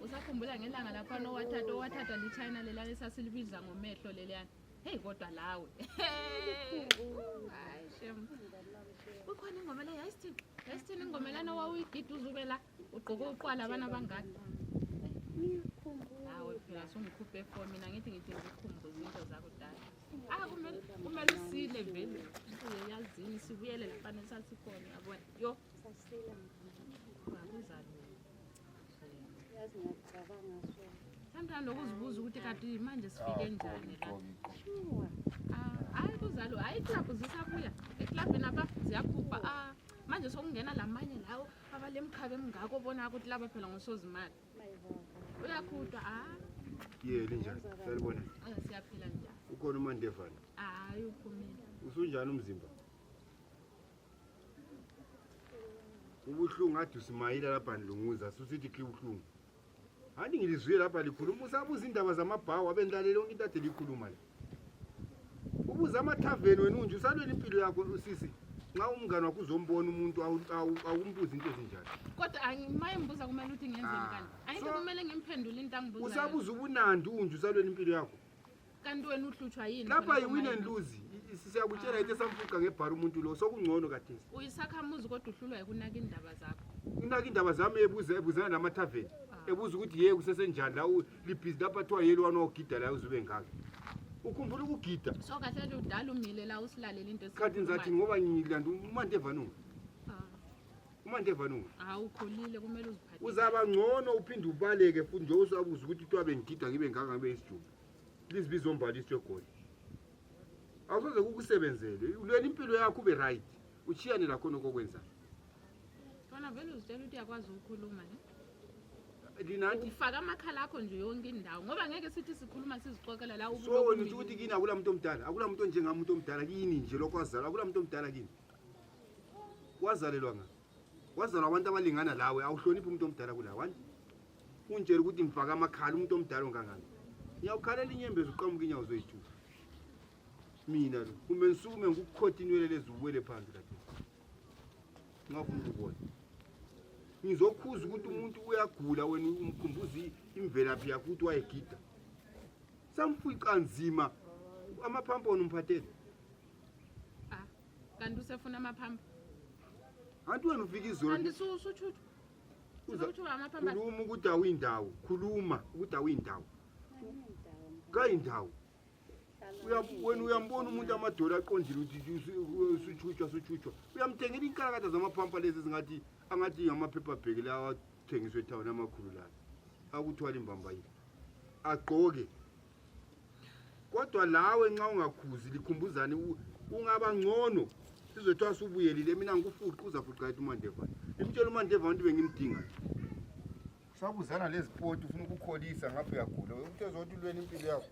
usakhumbula ngelanga lakhona owathatha owathathwa lichina leliyana esasilibiza ngomehlo leliyana heyi kodwa lawe hayi shem kukhona ingoma le yayisithini yayisithini ingoma lana wawuyigida uzube la ugqoke uqwala abana abangaka hawe phela sungikhuphe fo mina ngithi ngithi ngikukhumbuza into zakudala Ah, kumele usile vele uyazini sibuyele lafana sasikhona yabona yo sasila sometimes lokuzibuza ukuthi kati manje sifike njani la hayi kuzalo hayi iklabhu zisabuya eklabhini apa ziyakhupha manje sokungena lamanye lawo abalemkhabe emngako bona ukuthi laba phela ngosozimali uyakhutwa ah. yeli njani salibona ah, siyaphila njani ukhona umandevana hayi ah, uphumile usunjani umzimba ubuhlungu ade usimayile lapha ndilunguza susithi khe ubuhlungu handi ngilizwile lapha likhuluma usabuza iindaba zamabhawu abendilalele onke into ade liyikhuluma le ubuza amathaveni wena unje usalwela impilo yakho usisi nxa umngane wakho uzombona umuntu awumbuzi into ezinjani kodwa maye mbuza kumele ukuthi ngenzeni kanti ah, ayinto kumele ngimphendule into angibuza usabuza ubunandi unje usalwela impilo yakho kanti wena uhlutshwa yini lapha yiwin and lose siyakutshela yithe samfuqa ngebhara umuntu lo sokungcono kadesi uyisakhamuzi kodwa uhlulwa yikunaka indaba zakho unaka indaba zami ebuza ebuzana namathaveni ah. ebuza ukuthi ye kusesenjani la libhizi lapha kuthiwa yeli wani ogida layo uzube ngaka ukhumbula ukugida so kahle ludala umile la usilalela into khathi ngizathi ngoba ngilanda umante evanunga ah. umante evanunga hawu ukhulile kumele uziphathe uzaba ngcono uphinde ubaleke futhi nje usabuza ukuthi kuthiwa bengigida ngibe ngaka ngibe isijumba please bizombhala isitsho egoli awusoze kukusebenzele ulwela impilo yakho ube right ushiyane lakhona okokwenzayo fana vele uzitshela ukuthi uyakwazi ukukhuluma ne linathi ufaka amakhala akho nje yonke indawo ngoba ngeke sithi sikhuluma sizixoxela la so wena uthi ukuthi kini akula muntu omdala akula muntu onjengami umuntu omdala kini nje lokho wazalwa akula muntu omdala kini wazalelwa nga wazalwa abantu abalingana lawe awuhloniphi umuntu omdala kula wani ungitshela ukuthi ngifaka amakhala umuntu omdala ongangani ngiyawukhalela inyembezi uqamuka inyawo zoyithusa mina lo kumbe ngisukume ngikukhotha inwele lezi uwele phansi kade ngafuna ukubona ngizokhuza ukuthi umuntu uyagula wena umkhumbuza imvelaphi yakho ukuthi wayegida samfica nzima amaphampa wona umphathele ah, kanti usefuna amaphampa anti wena ufika izolokhuluma ukuthi awuyindawo khuluma ukuthi awuyindawo kayindawo wena uyambona umuntu amadolo aqondile usutshutshwa sutshutshwa uyamthengela inkalakatha zamaphampa lezi zingathi angathi ngamaphepha bheki la awathengiswe ethawuni amakhulu lana akuthwala imbambayile agqoke kodwa lawe nxa ungakhuzi likhumbuzane ungaba ngcono sizothiwa subuyelile mina ngikufuqe uzafuqa ethi umandevana imtshela umandevana ukuthi bengimdingayo Usabuzana lezi poti ufuna ukukholisa ngapha uyagula. Ukuthi ezothi ulweni impilo yakho.